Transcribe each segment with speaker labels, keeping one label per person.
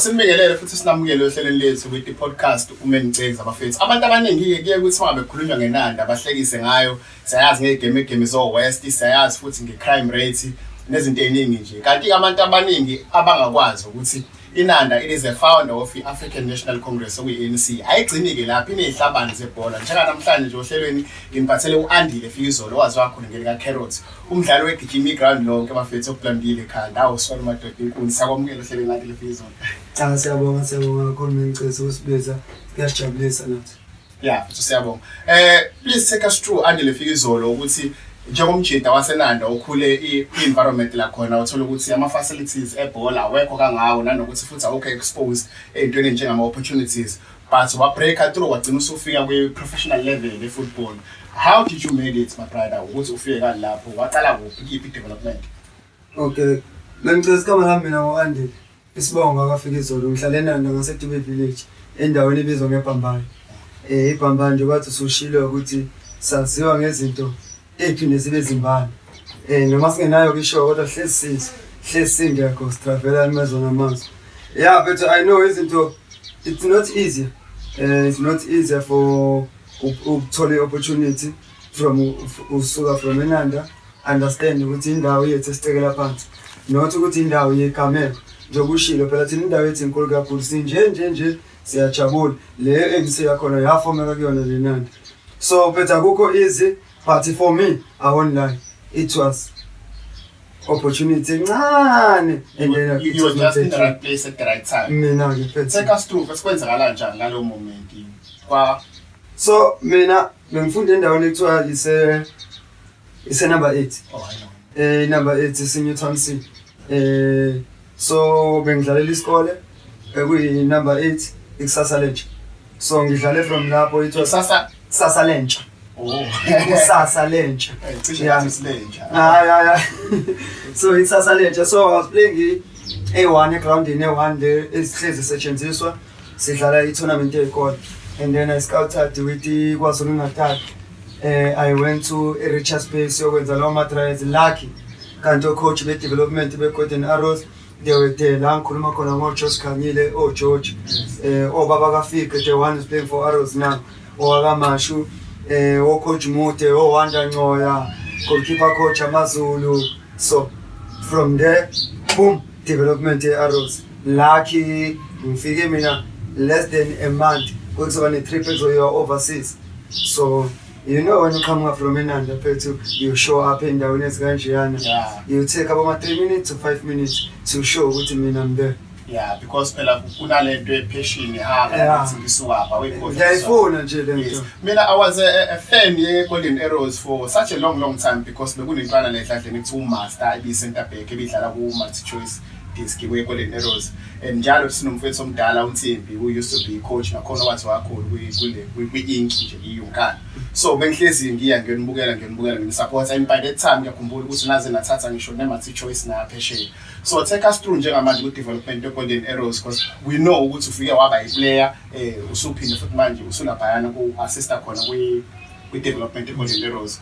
Speaker 1: Sinibingelele futhi sinamukele ohlelweni lethu kwithi podcast ume ngicekza abafethu. Abantu abaningi-ke kuye kuthi uma bekhulunywa ngenanda bahlekise ngayo. Siyayazi ngey'gemegeme zo-West, siyayazi futhi nge-crime rate nezinto ey'ningi nje. Kanti-ke abantu abaningi abangakwazi ukuthi INanda, it is a founder of i-African National Congress okuyi-ANC. Ayigcini-ke lapho inezihlabani zebhola. Njenganamhlanje nje ohlelweni ngimphathele u-Andile Fikizolo owaze wakhona ngelikaCarrots. Umdlali wegijima iground lonke bafethu okulandile ekhanda. Awu sona madoda inkuni sakwamukela ohlelweni Andile Fikizolo. Cha siyabonga
Speaker 2: siyabonga kakhulu Mengcisi usibiza kuyasijabulisa nathi. Yeah, futhi siyabonga.
Speaker 1: Eh please take us through Andile Fikizolo ukuthi njengomjita wasenanda okhule i-environment lakhona uthola ukuthi ama-facilities ebhola awekho kangawo nanokuthi futhi awukho exposed ey'ntweni enjengama-opportunities but wabreaker through wagcina usufika kwi-professional level ye-football how did you made it my brother ukuthi ufike kani lapho waqala kuphi kiphi i-development okay
Speaker 2: bengicela isikhama lami mina ngo-andile Isibongo akafika izolo ngihlale nanda ngaseDube Village endaweni ebizwa ngeBhambayo. Eh iBhambayo nje kwathi usushilo ukuthi saziwa ngezinto ephinde zibe zimbala. Eh noma singenayo kisho kodwa hlezi sizo. Hlezi singekho sitravela emezweni amanzi. Yeah but I know izinto it's not easy. Uh, it's not easy for ukuthola i-opportunity from usuka from enanda understand ukuthi indawo yethu esicekela phansi not ukuthi indawo yegameko njengoba ushilo phela thina indawo yethu inkulu kakhulu sinje nje nje siyajabula le engisiya khona yafomeka kuyona le nanda so phetha kukho easy but for me i won't lie it was opportunity encane engena
Speaker 1: mina ngiphethe so
Speaker 2: mina Bengifunda endaweni ekuthiwa ise ise number 8. Oh, I know. Eh
Speaker 1: number 8 isinye Town C.
Speaker 2: Eh so bengidlalela isikole ekuyi number 8 ikusasa lentsha. So ngidlale from lapho ithiwa Sasa. kusasa lentsha. Oh.
Speaker 1: Kusasa
Speaker 2: lentsha. Eh, Cishe Yeah. ngathi silenja. Ah, yeah, yeah. so it's Sasalenja. So I was playing A1 egroundini A1 le esihlezi setshenziswa sidlala i-tournament eyikole and then i scouted with ikwazulu natal eh i went to richards bay siyokwenza lawo ma-trials lucky kanti ocoach be-development be-golden arrows they were there la ngikhuluma khona ngojosh khanyile ogeorge eh obaba kafike the one is playing for arrows now owakamashu eh ocoach mude owanda ncoya goalkeeper coach amazulu so from there boom development ye-arrows lucky ngifike mina less than a month kuzoba ne-trip ezoyiwa overseas so you know when you come up from enanda phethu you show up endaweni ezikanjeyana Yeah. you take
Speaker 1: about ama-three
Speaker 2: minutes to five minutes to show ukuthi mina I'm there yeah because
Speaker 1: phela kunale nto epeshini Yeah. ihamba ngisuwapha ngiyayifuna nje
Speaker 2: le Yes. nto Mina, I was a,
Speaker 1: a fan ye Golden Arrows for such a long, long time because bekunentwana le edladleni kuthiwa uMaster ibiyisenta Ngibidlala ku Multi Choice Diski kwi Golden Arrows and njalo sinomfethu omdala uNsimbi who used to be coach nakhona wathi wakhulu kwi kule kwi ink nje iyunkana so bengihlezi ngiya ngiyonibukela ngiyonibukela ngimsupport and by that time ngiyakhumbula ukuthi naze nathatha ngisho ne Multi Choice na phesheya so take us through njengamanje ku development ye Golden Arrows because we know ukuthi ufike waba i player eh usuphinde futhi manje usulabhayana ku assista khona kwi kwi development ye Golden Arrows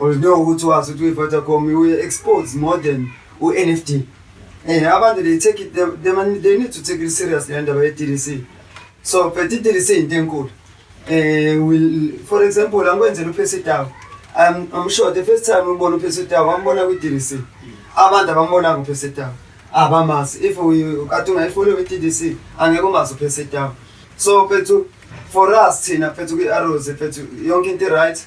Speaker 2: Oludinga ukuthi wazi ukuthi uyi-Vodacom uye-expose more than u-NFD. Eh abantu they take it they, they, man- they need to take it serious le ndaba ye-DDC. So phethe i-DDC into enkulu. Eh will for example angikwenzela uPhesi Tawu. I'm I'm sure the first time ubona uPhesi Tawu ambona kwi-DDC. Abantu abambona kuPhesi Tawu. Abamazi if we kade ungayifollow kwi-DDC angeke umazi uPhesi Tawu. So phethu for us thina phethu kwi-Arrows phethu yonke into right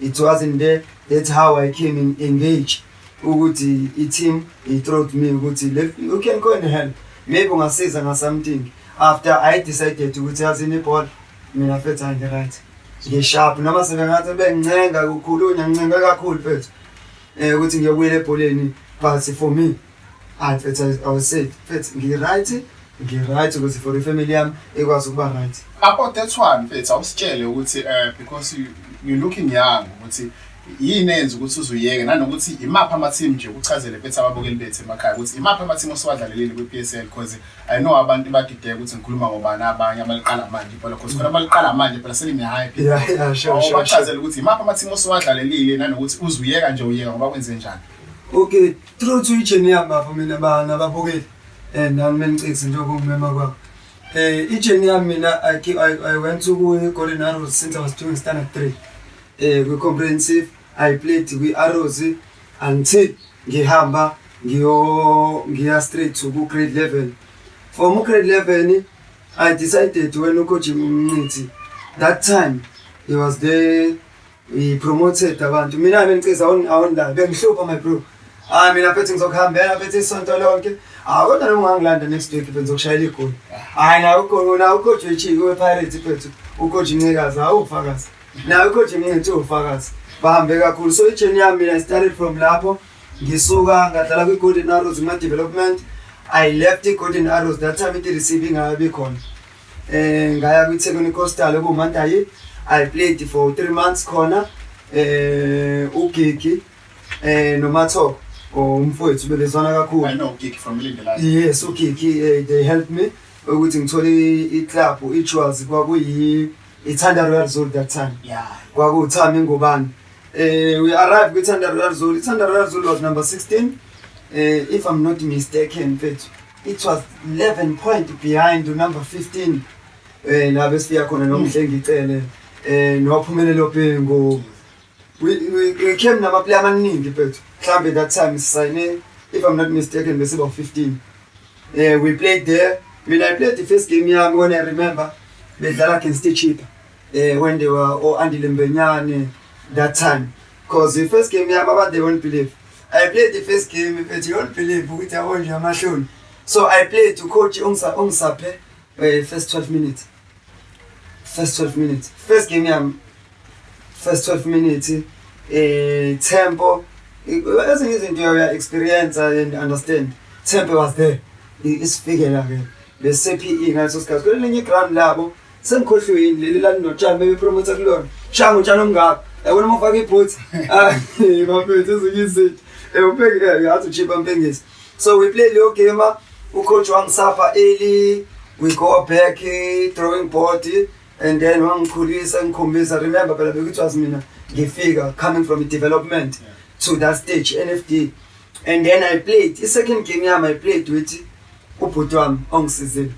Speaker 2: It wasn't there. That's how I came in engage ukuthi i-team i-throat me ukuthi you can go and help maybe ungasiza nga something after I decided ukuthi yazi inibhola mina fethu angi-right ngisharp noma sebengathi bengincenga kukhulunya ngincenga kakhulu fethu um ukuthi ngiyobuyela ebholeni but for me Hayi mfethu I was- I was safe. Mfethu ngi-right, ngi-right ukuthi for ifamily yami ikwazi ukuba right. Apo that's why
Speaker 1: mfethu awusitshele ukuthi eh because you, you looking young ukuthi yini enza ukuthi uzuyeke nanokuthi imaphi ama team nje ukuchazele bethu ababukeli bethu emakhaya ukuthi imaphi ama team osiwadlalelile kwi PSL because I know abantu badideka ukuthi ngikhuluma ngobani abanye abaliqala manje phela because khona abaliqala manje phela selime high people. Yeah, yeah, sure, sure, sure.
Speaker 2: Awubachazele ukuthi imaphi ama
Speaker 1: team osiwadlalelile nanokuthi uzuyeka nje uyeka ngoba kwenze njani. Okay,
Speaker 2: Through to ijeni yami bafo mina bana babukeli eh nami menicekisi nje kumema kwabo eh ijeni yami mina I, I, I went to Golden Arrows since I was doing standard 3 eh kwi comprehensive I played kwi Arrows until ngihamba ngiyo ngiya straight to ku grade 11 from grade 11 I decided when uKojimu Mnqithi that time he was there He promoted abantu. Mina bengiceza awondala bengihlupha my bro. Ah mina phethe ngizokuhambela phethe isonto lonke. Ah kodwa noma ungangilanda next week benza ukushayela igoli. Hayi na ukhona na ucoach wechi we Pirates phethu. Ucoach Ncikazi awufakazi. Na ucoach Mncithu ufakazi. Bahambe kakhulu so ijourney yami mina started from lapho ngisuka ngadlala kwi Golden Arrows ma development. I left the Golden Arrows that time it receiving ayibe khona. Eh ngaya kwiThekwini Coastal okuMantayi. I played for 3 months khona eh uGigi eh noMathoko umfowethu bebezwana kakhulu. I know Gigi from
Speaker 1: Lindela. Yes, uGigi
Speaker 2: eh, they helped me ukuthi ngithole iclub iJewels kwakuyi iThanda Royal Zone that time. Yeah. Kwakuthami ngubani. Eh we arrived kwiThanda Royal Zone. IThanda Royal Zone was number 16. Eh if I'm not mistaken mfethu. It was 11 point behind number 15 eh la bese yakhona nomhlengi icele eh nowaphumelela ophengo we we, we came nama player amaningi but mhlambe that time sisayine if i'm not mistaken bese ba 15 eh we played there when i played the first game yami when i remember bedlala against ichipa eh when they were o andile mbenyane that time Cause the first game yami abantu they won't believe. I played the first game but you won't believe ukuthi yabo nje amahloni. So I played to coach ongisa ongisaphe eh, first 12 minutes. First 12 minutes. First game yami first 12 minutes eh tempo ezinye izinto uya experience and understand. Tempo was there. Isifikela ke. Bese PE ngaso sikhathi. Kwelinye ground labo Sengikhohliwe yini leli lalinotshani bebepromotha kulona. Shango utshani omngaka. Yabona uma ufaka ibhoots. Ah, bafethu ezinyisidi. Ewupheke eh, ngathi uchipa mpengisi. So we play leyo game ah, ucoach wangisapha early we go back eh, drawing board eh, and then wangikhulisa ngikhombisa remember phela bekuthi was mina ngifika coming from development yeah. to that stage NFD and then I played i second game yami I played with Ubhuti wami ongisizile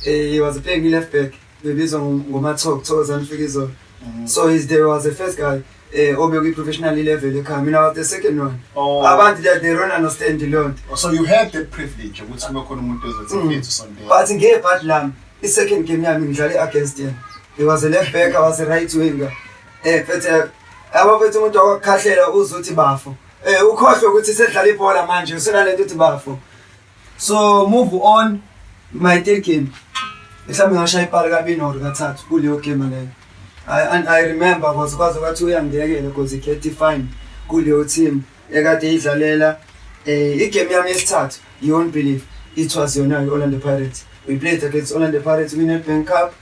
Speaker 2: eh, he was playing left back bebizwa ngomathoko thokozani ufika izolo mm. so he's there was the first guy eh obe kwi professional level ekhaya mina was the second one oh. abantu they they
Speaker 1: don't
Speaker 2: understand the lot oh, so you had the privilege ukuthi
Speaker 1: kube khona umuntu ezothi mm. mfethu sonto but nge part lam
Speaker 2: i second game yami ngidlale against him he was a left back i was a right winger eh phethe eh, abafethu umuntu akakhahlela uzothi bafo eh ukhohlwe ukuthi sedlala ibhola manje usenalento uthi bafo so move on my third game mhlawumbe ngashaya ipali kabini or kathathu kuleyo game leyo I, and I remember because kwaze kwathi uyangiyekela because ikhethi fine kuleyo team ekade idlalela eh igame yami yesithathu you won't believe it was yona i-orlando pirates we played against orlando pirates we nedbank cup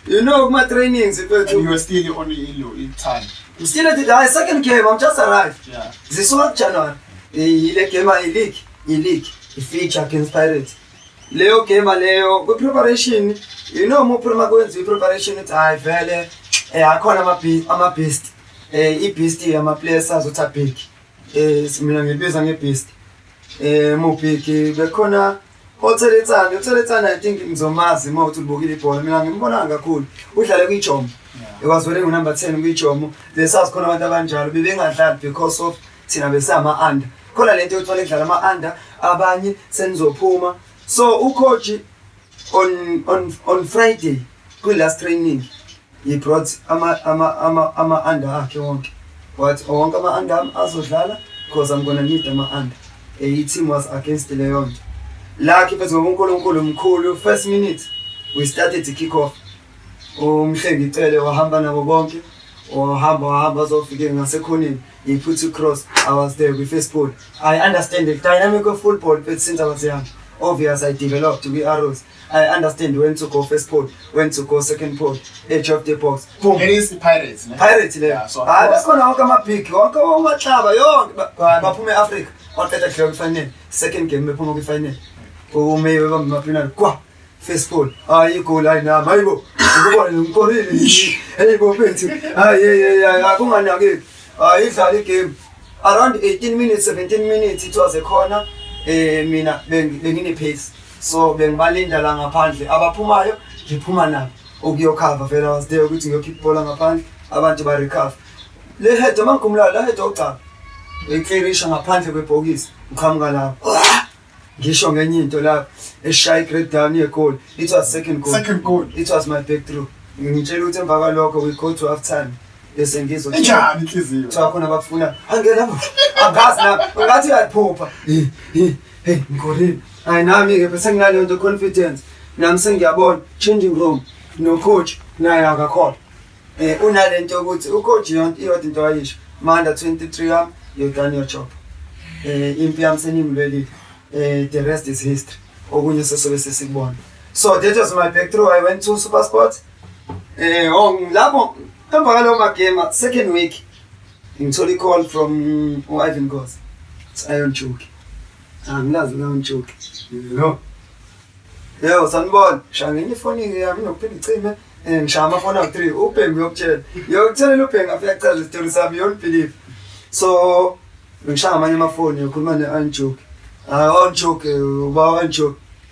Speaker 2: You know kuma trainings And mfethu. you were still on
Speaker 1: ilo ithanda. I'm still at the I
Speaker 2: second game. I'm just arrived. Yeah. This one January. I- Ile game I league. I league. I feature against Pirates. Leo game leyo ku preparation. You know mu prima kwenza i preparation it's I vele eh akhona ama beast ama beast. Eh i beast ama players azotha big. Eh simina ngibiza ngebeast. Eh mubhiki bekhona otheletsana, otheletsana I think ngizomazi uma uthi ubukile ibhola. Mina ngimbona kakhulu. Udlale kwiJomo. Ekwazwele ngu number 10 kwiJomo. Besazi khona abantu abanjalo bebengadlali because of thina besama under. Khona lento yokuthola edlala ama under abanye senizophuma. So ucoach on on on Friday kwi last training He brought ama ama ama ama under akhe wonke. What oh, wonke ama under am azodlala because I'm gonna need ama under. A team was against leyo nto. La khiphe ngoNkulunkulu mkhulu first minute we started to kick off. Umhlengi icele wahamba nabo bonke. Wahamba wahamba zofike ngasekhoneni. He put a cross. I was there with first ball. I understand the dynamic of football but since I was young obvious I developed we arrows. I understand when to go first port, when to go second port, edge of the box. Boom. It is Pirates,
Speaker 1: ne? Pirates le. Yeah,
Speaker 2: so Hayi bakhona
Speaker 1: wonke ama big,
Speaker 2: wonke omahlaba yonke baphuma eAfrica. Waqeda kudlala kwifinal, second game bephuma kwifinal. Ume bamba penal kwa first goal. Hayi igoal hayi nami. Hayibo. Ngikubona ngikorile. Hayibo mfethu. Hayi hey hey akunganaki. Hayi idlala igame. Around 18 minutes, 17 minutes it was a corner. Eh mina bengine pace. so bengibalinda la ngaphandle abaphumayo ngiphuma nabo ukuyokhava vele was there ukuthi ngiyokhipha ibhola ngaphandle abantu barecover le head uma ngikhumulayo la head ogcaba ngiyiklirisha ngaphandle kwebhokisi ngiqhamuka lapho ngisho ngenye into lapho eshaya i-great down yegoli it was second goal second goal it was my back through ngitshela ukuthi emva kwalokho we go to half time bese ngizwa njani inhliziyo kuthiwa
Speaker 1: khona abakufuna
Speaker 2: angena angazi na ungathi uyaphupha Hey, ngigorile. Hayi nami ke bese nginaleyo nto confidence. Nami sengiyabona changing room no coach naye akakhona. Eh unalento yokuthi u coach yonke iyodwa into ayisho. Manda 23 yam you done your job. Eh impi yam senimlwelile. Eh the rest is history. Okunye sesobe sesikubona. So that was my breakthrough. I went to SuperSport. Eh oh lapho emva kwalowo magame second week Ngithola i-call from u-Ivan Nkosi. Sayon Chuki. Angilazi uLion Chuki. No. Yebo sanibona. Shaya ngenye ifoni-ke yami nginokuphinde icime. Eh, ngishaya amafoni awu-three ubhengu uyokutshela yokutshela ubhengu afike akuchaza isitori sami you won't believe so ngishaya amanye amafoni yokhuluma ne-anjoke hayi u-anjoke uba u-anjoke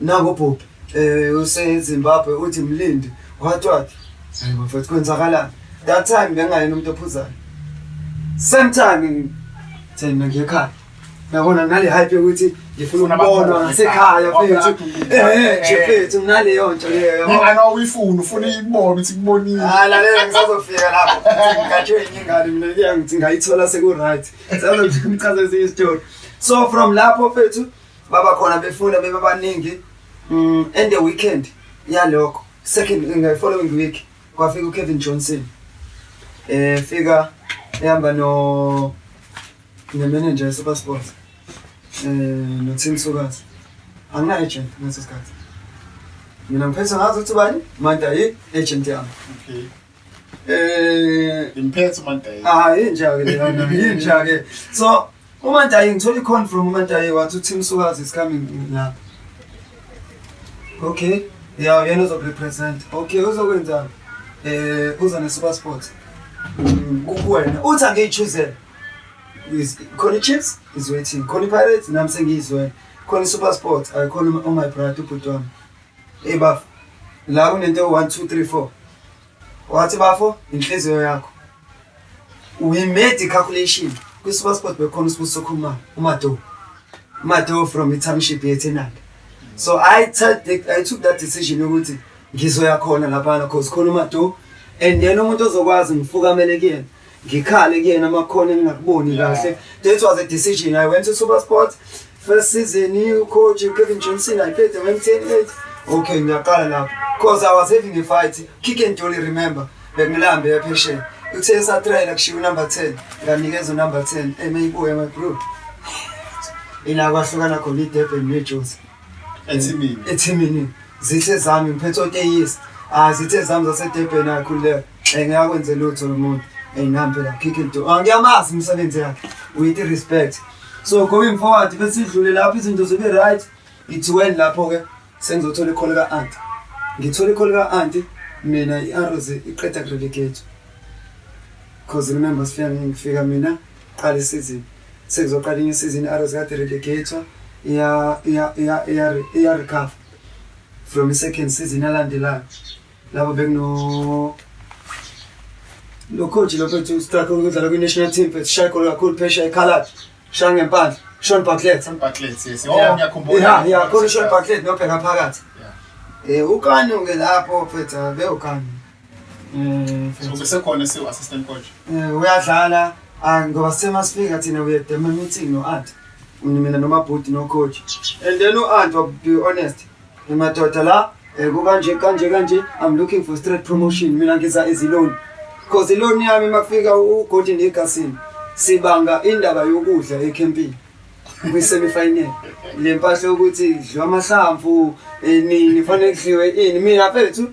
Speaker 2: Nako bhuti eh usezimbabwe uthi mlindi what what hayi bafethu kwenzakalani that time bengayena umuntu ophuzayo same time thina ngekhaya yabona nale hype yokuthi ngifuna ukubonwa ngasekhaya fethu eh nje fethu naleyo nto leyo yabo ngana uyifuna
Speaker 1: ufuna ikubona ukuthi kubonile ah lalela ngisazofika
Speaker 2: lapho ngikathiwe ingane mina kuya ngithi ngayithola seku right sazomchaza izinto so from lapho fethu baba khona befuna bebabaningi um and the weekend yalokho second in the following week kwafika uKevin Johnson eh fika ehamba no ne manager super sports eh no Tim Sukazi angina agent ngaso sikhathi mina ngiphethe ngazo ukuthi bani manta yi agent yami okay Eh,
Speaker 1: imphethe uMandayi. Ah, inja ke
Speaker 2: lena, inja ke. So, uMandayi ngithola i-con from uMandayi wathi uThim Sukazi is coming la. Okay. Yeah, yena uzokurepresent. Okay, uzokwenzani? Eh, uza ne-super sport. Mm, kukuwena. Uthi angiyichuzele. Is khona i-Chiefs is waiting. Khona i-Pirates nami sengiyizwele. Khona i-Super Sport, ayikhona u-my brother ubhuti wami. Hey bafo, la kunento 1 2 3 4. Wathi bafo, inhliziyo yakho. We made a calculation. Kwi-super sport bekhona usibuso khuma uMado. UMado from i-township yeThenanda. So I took I took that decision yokuthi ngizoya khona lapha because khona uMado and yena umuntu ozokwazi ngifukamele kuyena. ngikhale kuyena amakhona engingakuboni kahle that was a decision i went to super sport first season ucoach kevin johnson i played the went 10 okay ngiyaqala lapho because i was having a fight kick and dolly remember bengilambe yaphesheya uthe esatrayela kushiwo number 10 nganikeza unumber 10 emeyibuya my group ila kwahlukana khona idurban nejozi Ethimini.
Speaker 1: ethimini zithe zami
Speaker 2: ngiphethe oteyisi ah zithe zami zasedebheni akhululeka um ngiyakwenze lutho lo muntu um nami phela khikhe do Ah, ngiyamazi imisebenzi yakhe with respect so going forward besidlule lapho izinto zibe right ngithiweni lapho-ke sengizothola ikholo ka-anti ngithole ikholo ka-anti mina i-aros iqeda kurelegate cause remember sifika ngifika mina Qala isizini. Sekuzoqala inye isizini i-Arrows kade relegator iya iya iya iya iya recover from the second season elandelayo. Labo bekuno lo coach lo bethu struggle ukudlala kwi national team but shy goal kakhulu phesha ekhalad. Shaya ngempandla. Sean Bartlett. Sean Bartlett yes. Oh
Speaker 1: ngiyakhumbula. Yeah, yeah, khona Sean Bartlett
Speaker 2: nobheka phakathi. Yeah. Eh ukani ke lapho phetha bewukani. Eh, so
Speaker 1: besekhona esiwu assistant coach. Eh uyadlala
Speaker 2: ah, ngoba sema sifika thina we had a meeting no aunt. Mina noma bhuti no coach. And then u aunt to be honest. Imadoda la eh, kukanje kanje kanje I'm looking for straight promotion mina ngiza eziloni. Cause iloni yami makufika u Golden Eagles sibanga indaba yokudla ecampini. kwi semi final le mpahla ukuthi dliwa amahlamvu eh, nini fanele kudliwe ini mina mfethu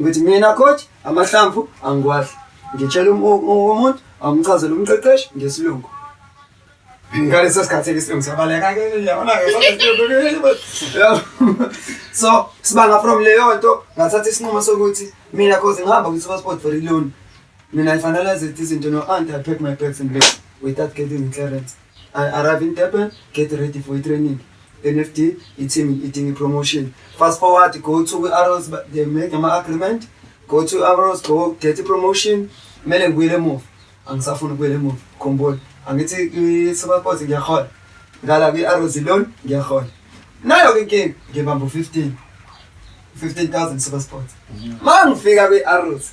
Speaker 2: ukuthi mina coach amahlamvu angiwahle ngitshela um, um, um, umuntu amchazele umqeqeshi ngesilungu ngaleso sikhathi isilungu siyabaleka-ke so sibanga from leyo nto ngathatha isinqumo sokuthi mina cause ngihamba kwi-super sport for iloni Mina I finalize it isn't no aunt I pack my bags and leave without getting clearance. I arrive in Durban, get ready for a training. NFD, it's him eating a promotion. Fast forward, go to Arrows, but they make an agreement. Go to Arrows, go get a promotion. Mele ngibuyele emuva. Angisafuni ukubuyela emuva. Khumbula, angithi kwi-Superport ngiyahola. Ngala kwi-Arrows loan ngiyahola. Nayo ke inkinga ngibamba u-15. 15000 Supersport. Mangifika kwi-Arrows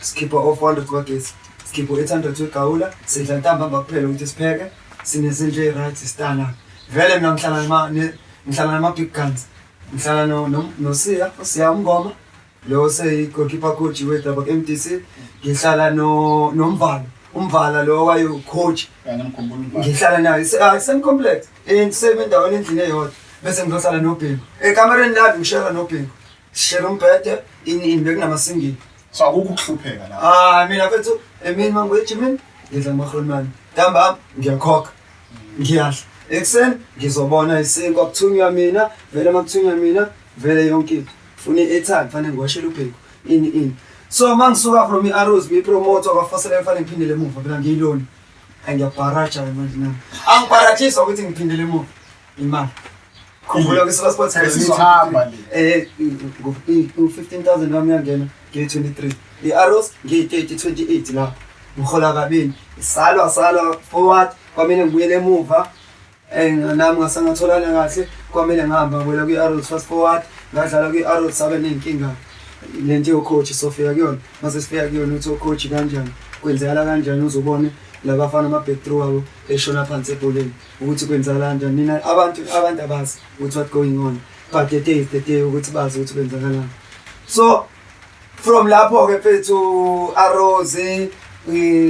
Speaker 2: Sikhipha o-400 kwagesi, sikhipha u-800 wegawula, sidla ntambamba kuphela ukuthi sipheke, sinezinto eyi-right stana. Vele mina ngihlala nama- ne- ngihlala nama-big guns. Ngihlala no- no- nosiya, usiya umngoma, lo oseyi-goalkeeper coach wedaba ku-M D C. Ngihlala no- nomvala, umvala lo wayewu-coach ngihlala naye se- ah, same complex Eh, same endaweni endlini eyodwa bese ngizohlala nobhingo ekamereni lami ngishela nobhingo Sishela umbhede ini ini bekunamasingili. So akukho
Speaker 1: ukuhlupheka la. Ah mina mfethu emini
Speaker 2: mangiwethi mina ngidla amahlonimani. Ntambama ngiyakhokha. Ngiyadla. Ekuseni ngizobona isinkwa kuthunywa mina, vele makuthunywa mina, vele yonke into. Funa i-airtime fanele ngiwashele ubheko. Ini ini. So mangisuka from i-Arrows ngiyipromote kwaFosile fanele ngiphindele emuva phela ngiyilona. Angiyabharaja manje nami. Angibharathisa ukuthi ngiphindele emuva. Imali. Khumbula ukuthi sase sports Sesi sesihamba
Speaker 1: sihamba le. eh
Speaker 2: ngo 15000 wami yangena ngiyi 23. I-Arrows ngiyi 30 28 la. Ngihola kabini. Isalwa salwa forward kwamele ngibuyele emuva. Eh nami ngasangatholana kahle kwamele ngihamba ngibuyela kwi-Arrows fast forward ngadlala kwi-Arrows sabe nenkinga lento yocoach sofika kuyona mase sifika kuyona uthi ocoach kanjani kwenzekala kanjani uzobone labafana ama-backthrough abo eshona phansi ebholeni ukuthi kwenzakalani nje nina abantu abantu abazi ukuthi what going on but the day is the day ukuthi bazi ukuthi kwenzakalani so from lapho ke mfethu arose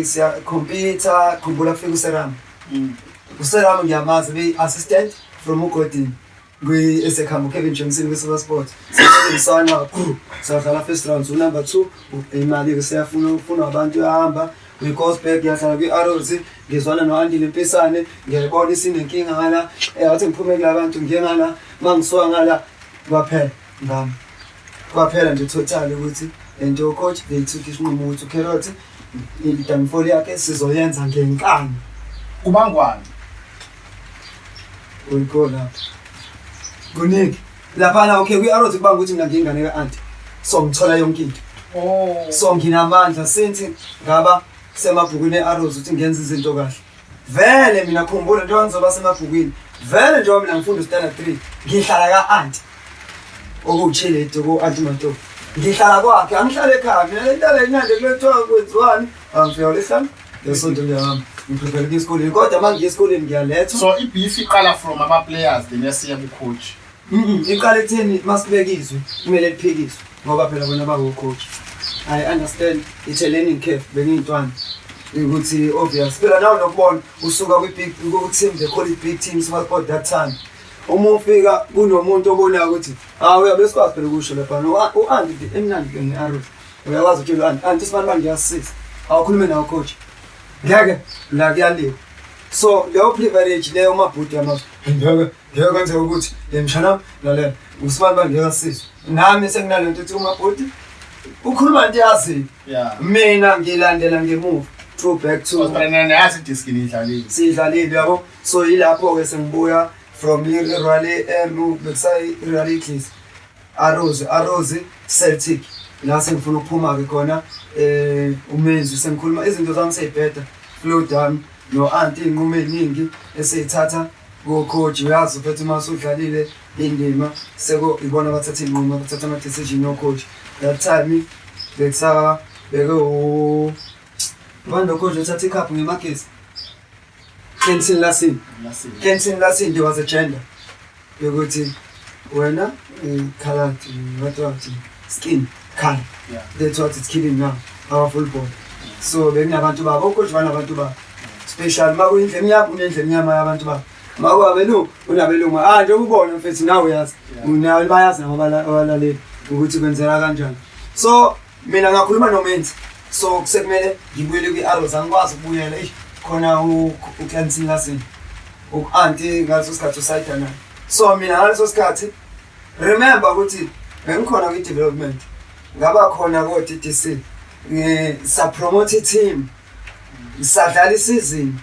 Speaker 2: siya computer khumbula kufika useram mm. useram ngiyamazi be assistant from ugodini kwi-esekhamba ukevin johnson kwi-super sport sisana kakhulu sadlala first round unumber two imali-ke seyafuna ufunwa abantu yahamba ngicosberg ngiyahlala kwi-arrows ngizwana no-andile mpisane ngiyayibona isinenkinga ngala eh, wathi ngiphume kula bantu ngiye ngala ma ngisuka ngala kwaphela ngami kwaphela nje total ukuthi lento yocoach beyithuka isinqumo ukuthi ukherothi idanifoli yakhe sizoyenza ngenkani kubangwane Uyikhona. Kuningi. Laphana okay kwi-arrow kuba ukuthi mina ngiyingane ka-anti. So ngithola yonke into. Oh. So nginamandla since ngaba semabhukwini e-arrows ukuthi ngenza izinto kahle. Vele mina khumbula njengoba ngizoba semabhukwini. Vele njengoba mina ngifunda standard 3 ngihlala ka-anti. Okuwuchiledi ku-anti Mantolo. Ngihlala kwakhe angihlale ekhaya mina le nto le nyande kuyothiwa kwenziwani Angifika ulihlala ngesonto liyami ngiprepare ukuya esikoleni kodwa uma ngiya esikoleni ngiyalethwa so ibeef iqala
Speaker 1: from ama-players then yasiya kucoach Mm-mm, iqala
Speaker 2: ekutheni uma sibeka izwi kumele liphikiswe ngoba phela bona bangocoach i understand it's a learning curve bengiyintwana ukuthi obvious phela nawe nokubona usuka kwi-big ku-team they call it big team sport that time uma ufika kunomuntu obonayo ukuthi hawu uyabe sikwazi phela ukusho lapha u-anti emnandi ke nge-arrows Uyawazi ukuthi lwani anti isibanibani ngiyasisiza awukhulume nawo coach ngeke la kuyaliwa so leyo privilege leyo umabhuti yamazwe ngeke ngeke kwenzeka ukuthi yemshana lalela usibanibani ngeke asizwe nami senginale nto ukuthi umabhuti ukhuluma nto yaziyo mina ngilandela ngemuva two back to yazi diskini
Speaker 1: idlalile sidlalile yabo
Speaker 2: so yilapho-ke sengibuya from irally enu bekusayi-irally clis Arrows, Arrows, Celtic. La sengifuna ukuphuma-ke khona eh umenzi sengikhuluma izinto zami seyibheda flow down no-anti iy'nqumo ey'ningi eseyithatha kocoach uyazi uphethe uma usudlalile indima seko ibona abathatha iy'nqumo abathatha ama-decision yocoach that time bekusabeke u ubani locoach othatha ikhaphu ngemakesi Kensin Lasin. Kensin Lasin, there was a gender. Yokuthi wena ikhalathi eh, what was it? Skin, color. Yeah. That's what it's killing now, our full body. So bekunabantu babo, okusho banabantu babo. Special makuyindle emnyama unendle emnyama yabantu babo. Makwabelungu unabelungu. Ah nje ubona mfethu nawe uyazi. Unayo bayazi nabo abalaleli ukuthi kwenzeka kanjani. So mina ngakhuluma nomenzi so kusekumele ngibuyele kwi-arrows angikwazi ukubuyela eish khona uclansin lasin uku-anti ngaleso sikhathi usayida naye so mina ngaleso sikhathi remember ukuthi bengikhona kwi-development ngaba khona ko-d d c ngisapromote i-team ngisadlala isizini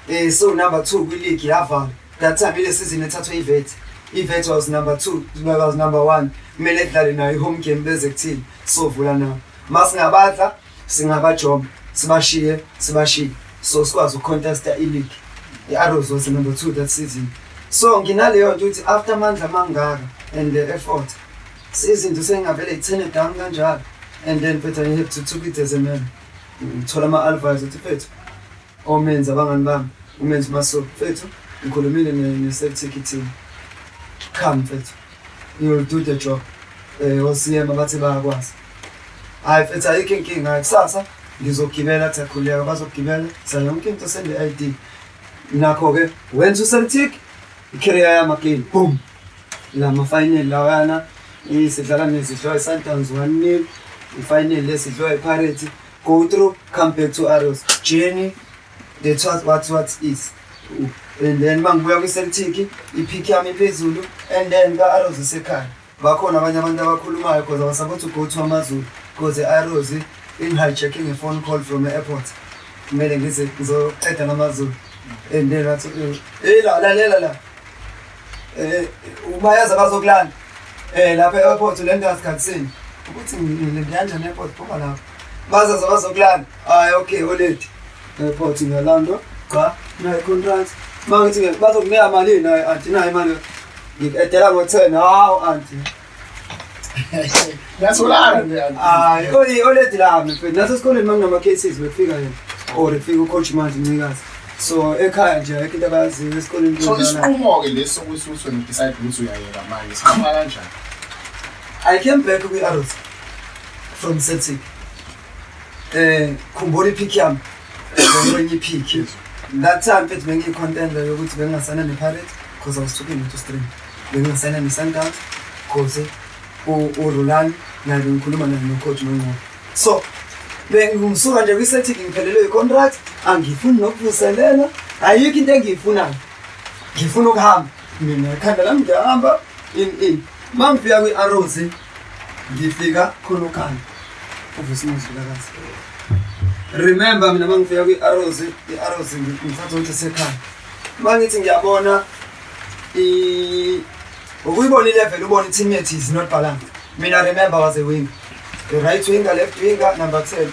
Speaker 2: um eh, so number two kwiligi yavala That time ile season ethathwe iVet. IVet was number 2, Duma was number 1. Kumele kudlale nayo ihome game beze kuthini. Sovula nawo. Masingabadla singabajoma, sibashiye, sibashiye. So sikwazi ukucontesta ileague. I-Arrows was number 2 that season. So nginaleyo nto ukuthi after amandla amangaka and the effort izinto sengingavele ithene down kanjalo and then phetha i-have to took it as a man ngithola ama-alvise ukuthi phethu Omenzi abangani bami umenzi maso mfethu ngikhulumile ne-safety team cha mfethu you'll do the job um osiyema bathi bayakwazi hhayi mfethu ayikho inkinga kusasa ngizogibela athi akhuleka bazogibela sa yonke into sende-i d nakho-ke wenza uceltic ikhereya yamakini boom la mafinali lawana sidlala nezidliwa i-sundowns one nil ifinali lesidliwa ipirates Go through, come back to Arrows. Journey, the what what what is. And then mangibuya kwi-Celtic, ipick yami phezulu and then ka-Arrows isekhaya. Bakhona abanye abantu abakhulumayo because I was about to go to AmaZulu because i-Arrows in-hijacking a phone call from the airport. Kumele ngize ngizoqeda ngamaZulu. And then wathi, "Hey la lalela la." Eh, eh, eh, umayazi abazokulanda. Eh lapha e-airport ulenda asikhathini. Ukuthi ngilendanja ne-airport phuma lapha. Baza zabazokulanda. Hayi okay oledi. E-airport ngiyalanda. Cha, nayi contract. Mangithi ngeke bazokunika malini naye athi nayi manje. Ngikudela ngo-10. Hawu auntie.
Speaker 1: Ngiyatholana nje. Hayi, oyi oledi la
Speaker 2: mfethu. Naso esikoleni manginama cases bekufika yena. Or kufika ucoach manje ncikazi. So ekhaya nje ayikho into abayaziyo esikoleni. So isinqumo ke leso ukuthi uswe
Speaker 1: decide ukuthi uyayeka manje. Sikhamba
Speaker 2: kanjani? I came back kwi Arrows from Celtic. Eh, khumbula ipick yami. Ngiyonye ipick. That time mfethu bengiyi contender yokuthi bengingasana ne Pirates because I was talking to stream. Bengingasana ne Sundowns because uRulan naye bengikhuluma naye nocoach nongqobo so bengisuka nje kwi-celtic ngiphelelwe yi-contract angifuni nokuvuselela ayikho into engiyifunayo ngifuna ukuhamba mina ekhanda lami ngiyahamba in in ma ngifika kwi-arrows ngifika khona ukhanda uvusimuzulakazi remember mina ma ngifika kwi-arrows i-arrows ngithatha ukuthi sekhaya ma ngithi ngiyabona Ukuyibona ilevel ubona i-team yethu is not balanced. Mina remember was a winger. The right winger, left winger, number 10.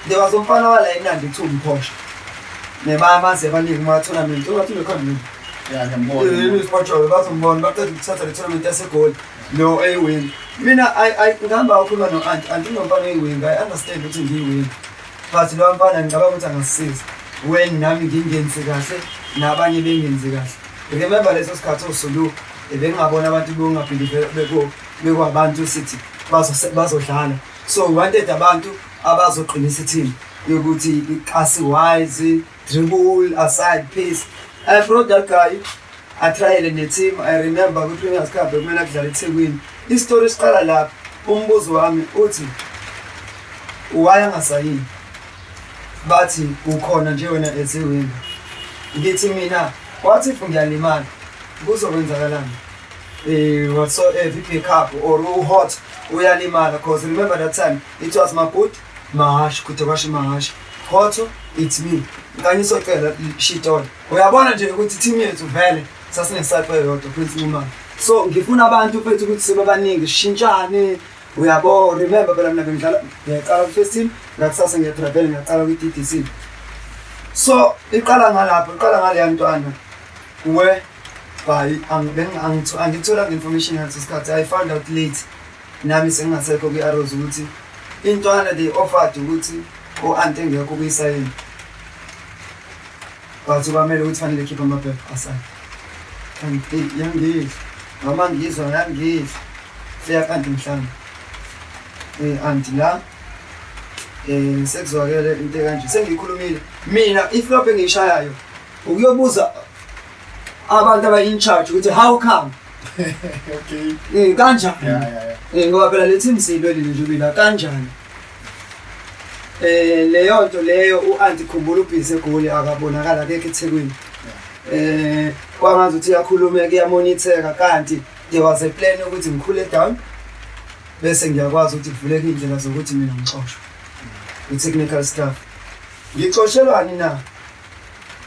Speaker 2: There was umfana wala eNandi kuthiwa umphosha. Nebama sebaningi kuma-tournament. Ungathi ubekhona mina. Yeah, ngiyambona.
Speaker 1: Yini isipotshoke bazombona
Speaker 2: baqeda ukuthatha le tournament yasegoli no eyiwini. Mina I I ngihamba ukhuluma no-anti, anti unomfana oyiwinga, I understand ukuthi ngiyiwinga. but lowa mfana ngicabanga ukuthi angasisiza when nami ngingenzi kahle nabanye bengenzi kahle remember leso sikhathi osulu ebengingabona abantu bongabhilive bekwabantu sithi bazodlala so wanted abantu abazoqinisa ithini yokuthi asiwise Dribble aside pace. I brought that guy. I tried in the team. I remember kwi Premier's Cup bekumele kudlala eThekwini. Istory siqala lapha. Umbuzo wami uthi why angasayini? Bathi ukhona nje wena as a winger. Ngithi mina wathi if ngiyalimala kuzokwenzakalani? Eh whatsoever pick up or u hot uyalimala because remember that time it was my boot Mahashi kude kwasho imahashi. Khotho it's me. Kanye socela shitol. Uyabona nje ukuthi team yethu vele sasingesape yodwa Prince Nxumalo. So ngifuna abantu mfethu ukuthi sebabaningi sishintshane. Uyabo remember phela mina bengidlala ngiyaqala ku first team ngakusasa ngiyatravel ngiyaqala ku TDC. So iqala ngalapho iqala ngale yantwana. Kuwe hayi angithola nge-information ngaleso sikhathi i found out late Nami sengingasekho kwi-Arrows ukuthi intwana they offered ukuthi o-ante ngekho kuyisayini but kwamele ukuthi fanele khipha amaphepha asayini yangidla noma ngizwa yangidla feya kanti mhlawumbe um eh, anti la um sekuzwakele into ekanje sengiyikhulumile mina iflop engiyishayayo ukuyobuza abantu abayi-in charge ukuthi how come
Speaker 1: okay. Eh kanjani?
Speaker 2: Yeah, yeah, yeah. Eh ngoba
Speaker 1: phela lethi imsilo
Speaker 2: leli nje bila kanjani? Eh leyo nto leyo uAunti Khumbula ubhizi egoli akabonakala akekho eThekwini. Eh kwangazi ukuthi iyakhulumeka iyamonitheka kanti there was a plan ukuthi ngikhule down bese ngiyakwazi ukuthi kuvuleke indlela zokuthi mina ngixoshwe. I technical staff. Ngixoshelwani na?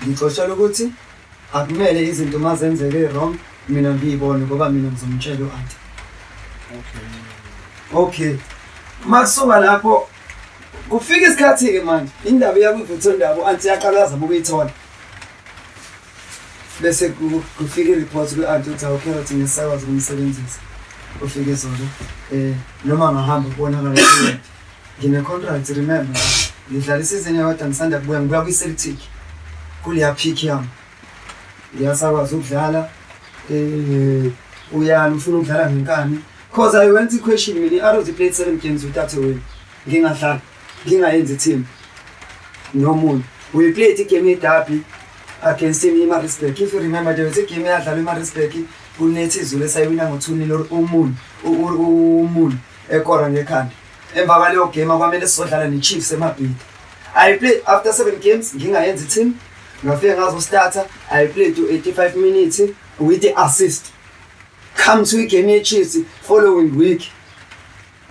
Speaker 2: Ngixoshelwa ukuthi Akumele izinto uma zenzeke wrong mina ngiyibone ngoba mina ngizomtshela u-anti. Okay. Okay. Uma kusuka lapho kufika isikhathi-ke manje indaba iyakwivutha ndaba u-anti yaqalaza uma ukuyithola bese kufika i-report kwi-anti ukuthi awucarrot ngesakwazi ukumsebenzisa ufike zona um noma ngahamba kubonakala Ngine contract remember. Ngidlala isizini yodwa ngisanda kubuya ngibuya kwi Celtic. Kuleya pick yam. Ngiyasakwazi ukudlala eh uyani ufuna ukudlala ngenkani because I went to question mina i-Arrows played 7 games without a win. Ngingadlala ngingayenzi team. Nomuntu. We played igame yeDerby against him iMaritzburg. If you remember there was a game eyadlalwa iMaritzburg kunethi izulu esayiwina ngo-2 nil or umun umun ekora ngekhanda emva kwaleyo game akwamele sizodlala nechiefs emabhidi i played after seven games ngingayenzi team ngafike ngazostarter i played to 85 minutes with the assist come to igame yechiefs following week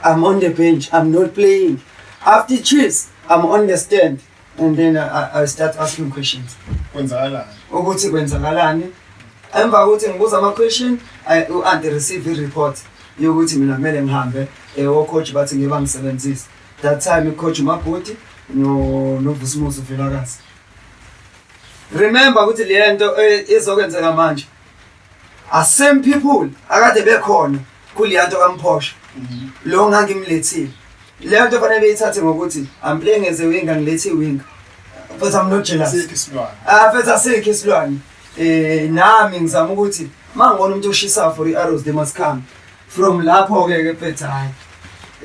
Speaker 2: i'm on the bench i'm not playing after chiefs i'm on the stand and then I, I start asking questions kwenzakalani
Speaker 1: ukuthi
Speaker 2: kwenzakalani emva kokuthi ngibuza ama-question u-anti receive i-report yokuthi mina kumele ngihambe um ocoach bathi ngiba ngisebenzise that time icoach umabhoti novusumuzi uvelakazi remember ukuthi le nto eh, izokwenzeka manje are same people akade bekhona kuleya nto kamphosha lo ngangimlethile leyo nto fanele beyithathe ngokuthi i'm playing as a winger ngilethi iwinger futhi i'm not jealous Asikho isilwane. ah futhi asikho isilwane eh nami ngizama ukuthi mangibona umuntu oshisa for i-arrows they must come from lapho ke ke futhi hayi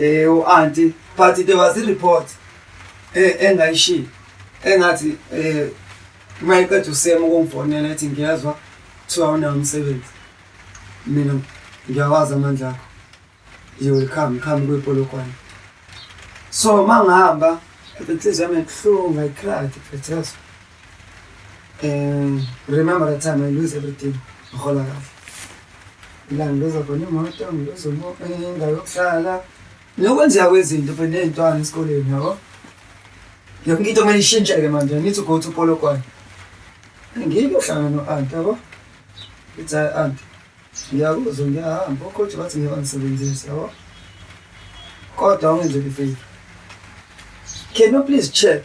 Speaker 2: eh u-anti but there was a report eh engayishilo engathi eh uma eqeda usema ukungifonela ethi ngiyezwa kuthiwa unawo umsebenzi mina ngiyawazi amandla akho you will come come kwipolokwane so uma ngihamba inhliziyo yami ibuhlungu i cried bethezwa um remember the time i lose everything ngihola kahle la ngiluza khona imoto ngiluza indawo yokuhlala Nokwenzeka kwezinto phela ney'ntwana esikoleni yabo. Yonke into kumele ishintsheke manje. I need to go to Polokwane. Ngiyike uhlangana no-aunt yabo. It's our aunt. Ngiyakuzwa ngiyahamba okhothe bathi ngeke bangisebenzise yabo. Kodwa ungenzeli favor. Can you please check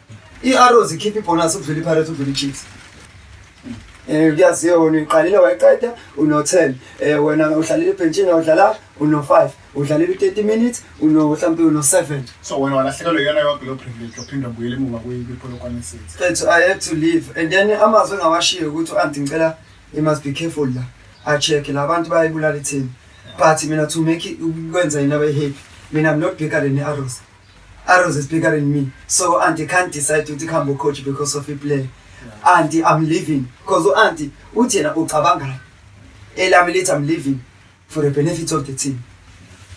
Speaker 2: I-Arrows ikhipha ibhonasi ukudlula iPirates ukudlula iChiefs. Eh kuyaziwa wena uyiqalile wayiqeda uno-10. Eh wena uhlalile ebhentshini awudlala uno-5. Udlalile u-30 minutes uno mhlawumbe uno-7. So wena walahlekelwa
Speaker 1: iyona yonke leyo privilege yophinde ubuyele emuva kwiPolokwane City. Mfethu I had to leave
Speaker 2: and then amazwi engawashiye ukuthi u-anti ngicela you must be careful la. A-check-e la bantu bayayibulala ithini. But mina to make it- ukwenza yini abayi-happy. Mina I'm not bigger than i-Arrows. Arrows is bigger than me. So auntie can't decide to become a coach because of a player. Auntie, I'm leaving. Because auntie, uthi yena ucabangani. Elami lithi I'm leaving for the benefit of the team.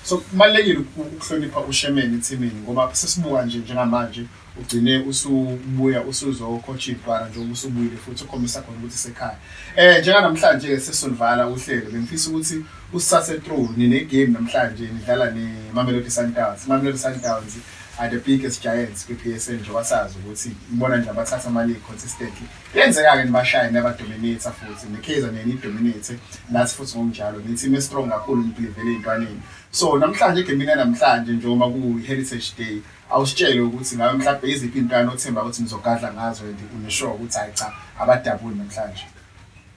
Speaker 2: So kubalekile
Speaker 1: ukuhlonipha ushemeni ethimini ngoba sesibuka nje njengamanje ugcine usubuya usuzo coach ibhara nje ubusubuyile futhi ukhombisa khona ukuthi sekhaya. Eh njenga namhlanje ke sesonivala uhlelo bengifisa ukuthi Kusase true nine game namhlanje nidlala ne Mamelodi Sundowns. Mamelodi Sundowns are the biggest giants kwi PSL nje wasazi ukuthi ibona nje abathatha ama league consistently. Yenzeka ke nibashaye naba dominate futhi ne Kaizer ne ni dominate nathi futhi ngokunjalo ni team strong kakhulu nibhilivele intwaneni. So namhlanje game ina namhlanje nje uma ku Heritage Day awusitshele ukuthi ngabe mhlawumbe iziphi intwana othemba ukuthi nizogadla ngazo and unesure ukuthi hayi cha abadabuli namhlanje.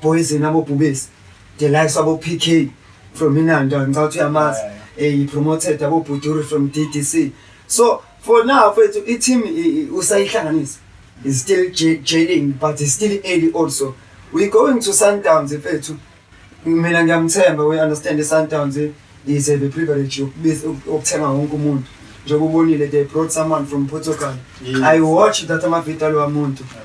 Speaker 2: Poison abobhubesi the likes abo PK from Inanda ngicabanga ukuthi uyamazi eh he promoted abo Buduri from DDC so for now mfethu i team usayihlanganisa is still jailing but is still early also we going to Sundowns mfethu mina ngiyamthemba we understand Sundowns eh? is a privilege yokuthenga wonke umuntu njengoba ubonile they brought someone from Portugal yeah. I watched that ama video alwa muntu yeah.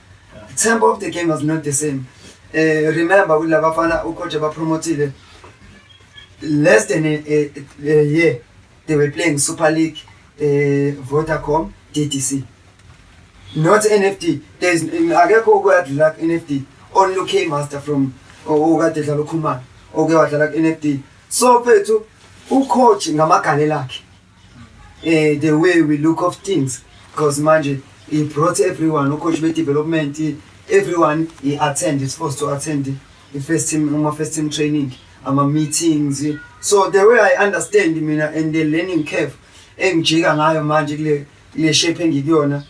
Speaker 2: tempo of the game was not the same eh remember ukuthi labafana ucoach abapromotile less than a, a, a year they were playing super league eh vodacom ddc not nft there's akekho okuyadlula nft only okay master from okade dlala ukhumana oke wadlala ku-nft so phethu ucoach ngamagane lakhe eh, the way we look of things because manje he brought everyone ucoach be-development everyone he attend is supposed to attend i-first team ama-first team training ama-meetings so the way i understand mina and the learning curve engijika ngayo manje kule kule shape engikuyona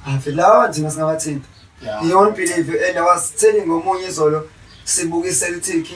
Speaker 2: ave lawa nje masingabathinta beyond believe and i was telling omunye izolo sibukise lithiki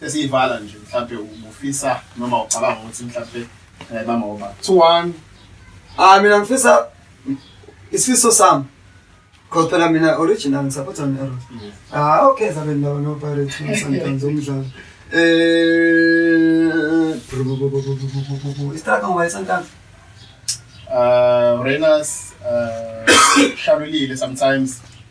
Speaker 1: sesiyivala nje mhlampe ubufisa noma ucabanga ukuthi mhlampe ngayibamba ngoba 2-1 ah mina ngifisa
Speaker 2: isifiso sami because phela mina original ngisapotha ne-arrows ah okay zabe ndaba nopirates sometimes umdlalo um istraka ngoba isantanzi uh,
Speaker 1: Rainers uh, shalulile sometimes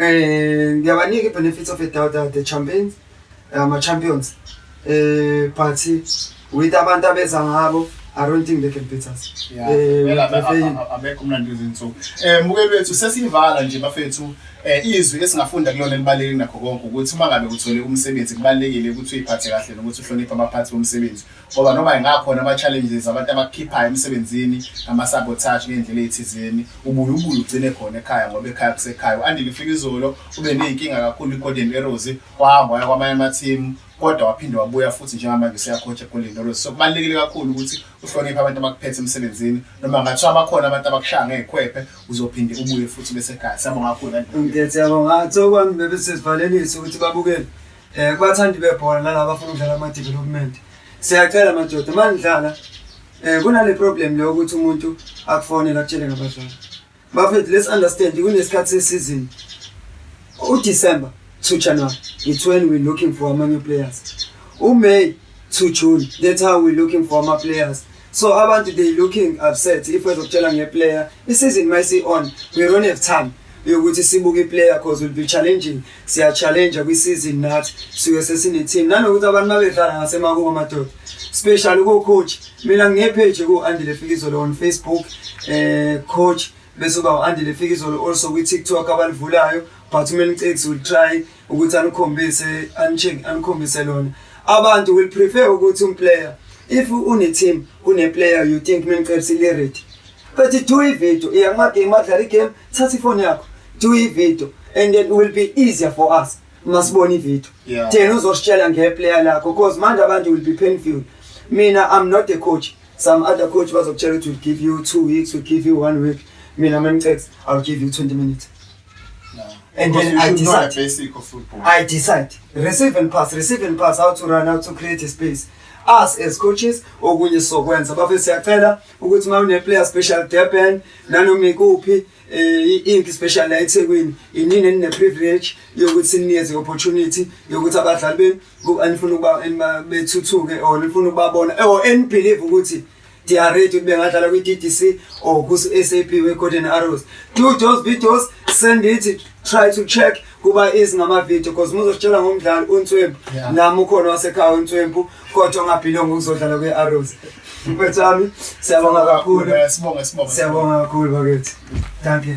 Speaker 2: Eh ngiyabanika ibenefits of a doubt that the champions eh, ama champions eh but with abantu abeza ngabo I don't think they can beat us. Yeah. Eh, we are failing.
Speaker 1: Abekho mnandi izinsuku. Eh mukeli wethu sesivala nje bafethu eh izwi esingafunda kulona libaleke nakho konke ukuthi uma ngabe uthole umsebenzi kubalekile ukuthi uyiphathe kahle nokuthi uhloniphe abaphathi bomsebenzi. ngoba noma ingakhona ama-challenges abantu abakukhiphayo emsebenzini ama-sabotage ngey'ndlela ey'thizeni ubuye ubuye ugcine khona ekhaya ngoba ekhaya kusekhaya u-andile ufika izolo ube ney'nkinga kakhulu i-golden arrows wahamba waya kwamanye amathimu kodwa waphinde wabuya futhi njengamanje useyakhotha egolden arrows so kubalulekile kakhulu ukuthi uhloniphe abantu abakuphethe emsebenzini noma ngathiwa abakhona abantu abakushaya ngey'khwephe uzophinde ubuye futhi besekhaya siyabonga kakhulu kanti siyabonga
Speaker 2: sokwami bebesesivalelisa ukuthi babukele Eh kubathandi bebhola nalabo abafuna ukudlala ama development. Siyacela madoda manidlala eh kunale problem leyo ukuthi umuntu akufonela akutshele ngabadlali. Bafethu let's understand kunesikhathi sesizini. UDecember to January it's when we're looking for amanye players. UMay to June that's how we're looking for ama players. So abantu they looking upset if wezokutshela ngeplayer isizini mayisi on we don't have time yokuthi sibuke iplayer cause will be challenging siya challenge kwi season nathi siwe sesine team nanokuthi abantu babedlala ngasemakubo amadoda special ku coach mina nge page ku Andile Fikizolo on Facebook eh coach bese uba u-andile fikizolo also kwi-tiktok abalivulayo but umelcix will try ukuthi anikhombise anitshingi anikhombise lona abantu will prefer ukuthi umplayer if une-team une-player you think mengiqebisa ilirity but do ivideo iya kumagame adlala igame thatha ifoni yakho do ivideo and then will be easier for us masibona ivideo yeah. thena uzositshela ngeplayer lakho because manje abantu will be painful mina i'm not a coach some other coach bazokutshela ukuthi will give you two weeks will give you one week mina mengicex i'll give you 20 minutes And then I decide. basic
Speaker 1: of football. I decide.
Speaker 2: Receive and pass, receive and pass, how to run, how to create a space. Us as coaches, okunye sokwenza. Bafethu siyacela ukuthi uma une player special Durban, nanoma ikuphi eh inki special la eThekwini, inini enine privilege yokuthi sinikeze opportunity yokuthi abadlali benu anifuna ukuba bethuthuke or nifuna ukubabona or and believe ukuthi Diarrhea to bengadlala kwi-DDC or ku-SAP we-Golden Arrows. Do those videos, send it, try to check kuba is ngama-video because muzositshela ngomdlali uNtswempu yeah. nami ukhona wasekhaya uNtswempu kodwa ongabhilonga ukuzodlala kwi-Arrows. Mfethu wami, siyabonga kakhulu. Sibonga, sibonga.
Speaker 1: Siyabonga
Speaker 2: kakhulu bakithi. Thank you.